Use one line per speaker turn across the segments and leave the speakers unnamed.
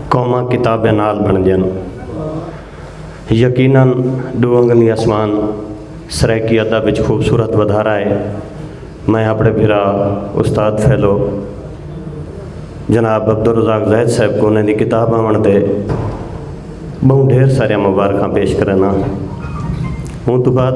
قوماں کتابیں نال بنڑدیاں ہن۔ یقیناً ڈو انگلی اسمان سرائیکی ادب اچ خوبصورت ودھارا ہے۔ میں اپنڑے بھرا استاد فیلو جناب عبدالرزاق زاہد صاحب کوں انہاں دی کتاب آونڑ تے بہوں ڈھیر ساریاں مبارخاں پیش کرینڑاں۔ اوں توں بعد۔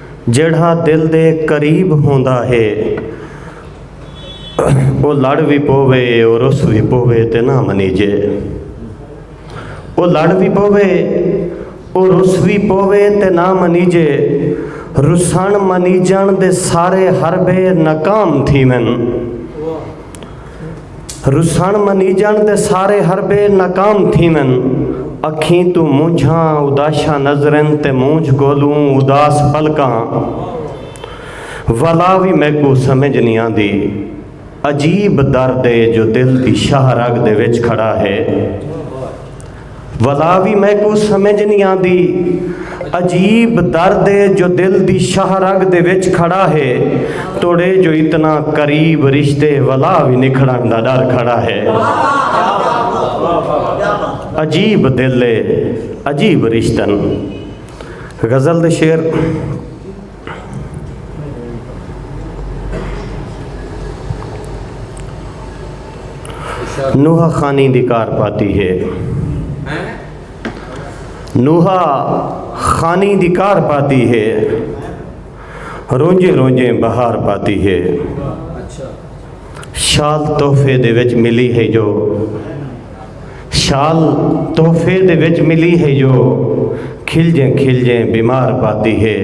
جیڑھا دل دے قریب ہوندا ہے او لڑ وی پووے او رس وی پووے تے نہ منیجے او لڑ وی پووے او رس وی پووے تے نہ منیجے رسݨ منیجݨ دے سارے حربے ناکام تھیون رسن منیجن تے سارے حربے ناکام تھیون اکھیں توں مونجھاں اداشاں نظرن تے مونجھ کولوں اداس پلکاں ولا وی میکو سمجھ نی آندی عجیب درد اے جو دل دی شاہ رگ دے وچ کھڑا ہے۔ ولا وی میکوں سمجھ نی آندی عجیب درد ہے جو دل دی شاہ رگ دے وچ کھڑا ہے توڑے جو اتنا قریب رشتے ولا وی نکھڑن دا ڈر کھڑا ہے عجیب دل ہے عجیب رشتن غزل دے شعر نوحہ خانی دی کار پاتی ہے نوحہ خانی دی کار پاتی ہے رونجے رونجے بہار پاتی ہے شاد تحفے دے وچ ملی ہے جو شال تحفے دے وچ ملی ہے جو کھلجیں کھلجیں بیمار پاتی ہے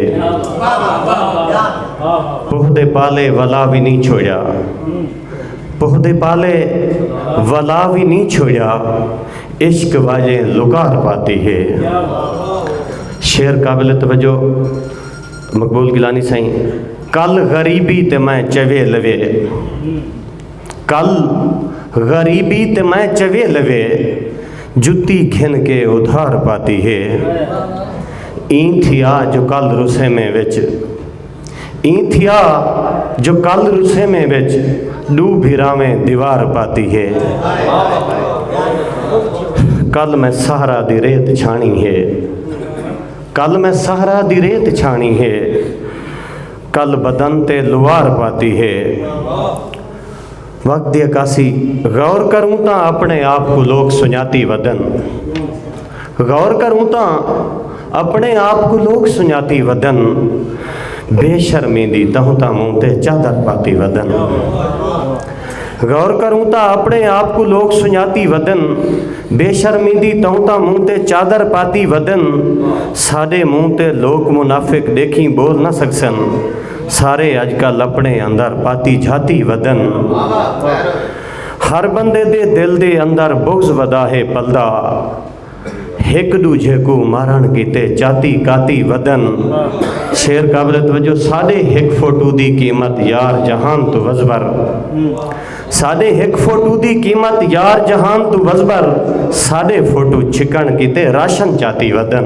پوہ دے پالے ولا وی نہیں چھوڑیا پوہ دے پالے ولا وی نہیں چھوڑیا عشق واجیں لکار پاتی ہے شعر قابل توجہ مقبول گلانی سائیں کل غریبی تے میں چوے لوے کل غریبی تے میں چوے لوے جتی گھن کے ادھار پاتی ہے ایں تھیا جو کل رسیمیں وچ ایں تھیا جو کل رسیمیں وچ ڈو بھراویں دیوار پاتی ہے کل میں سہرا دی ریت چھانی ہے کل میں سہرا دی ریت چھانی ہے کل بدن تے لوار پاتی ہے۔ وقت دی عکاسی غور کروں تاں اپنے آپ کوں لوک سنجاتی ودن۔ غور کروں تاں اپنے آپ کوں لوک سنجاتی ودن۔ بے شرمی دی تہوں تاں مونتے چادر پاتی ودن۔ غور کروں تاں اپݨے آپ کوں لوک سنڄاتی ودن، بے شرمی دی توں تاں منہ تے چادر پاتی ودن، ساݙے منہ تے لوک منافق ݙیکھیں ٻول نہ سڳسن، سارے اڄ کل اپݨے اندر پاتی جھاتی ودن، ہر بندے دے دل دے اندر بغض ودا ہے پلدا۔ ہک ڈوجھے کوں مارنڑ کیتے چاتی کاتی ودن شعر قابل توجہ ساڈے ہک فوٹو دی قیمت یار جہان توں وزبر ساڈے ہک فوٹو دی قیمت یار جہان توں وزبر ساڈے فوٹو چھکنڑ کیتے راشن چاتی ودن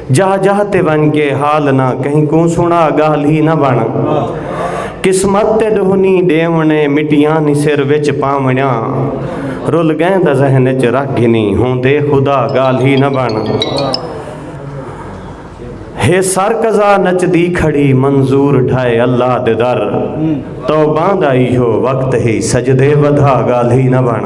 جاہ جاہ تے ونج کے حال نہ کہیں کوں سنا گالھ ہی نہ بن قسمت تے ڈہنی ڈیونڑے مٹیاں نی سر وچ پاونڑیاں رل گئیں دا ذہن وچ رکھ گھنی ہوندے خدا گالھ ہی نہ بن ہے سر قضا نچ دی کھڑی منظور ڈھائے اللہ دے در توباں دا ایہو وقت ہی سجدے ودھا گالھ ہی نہ بن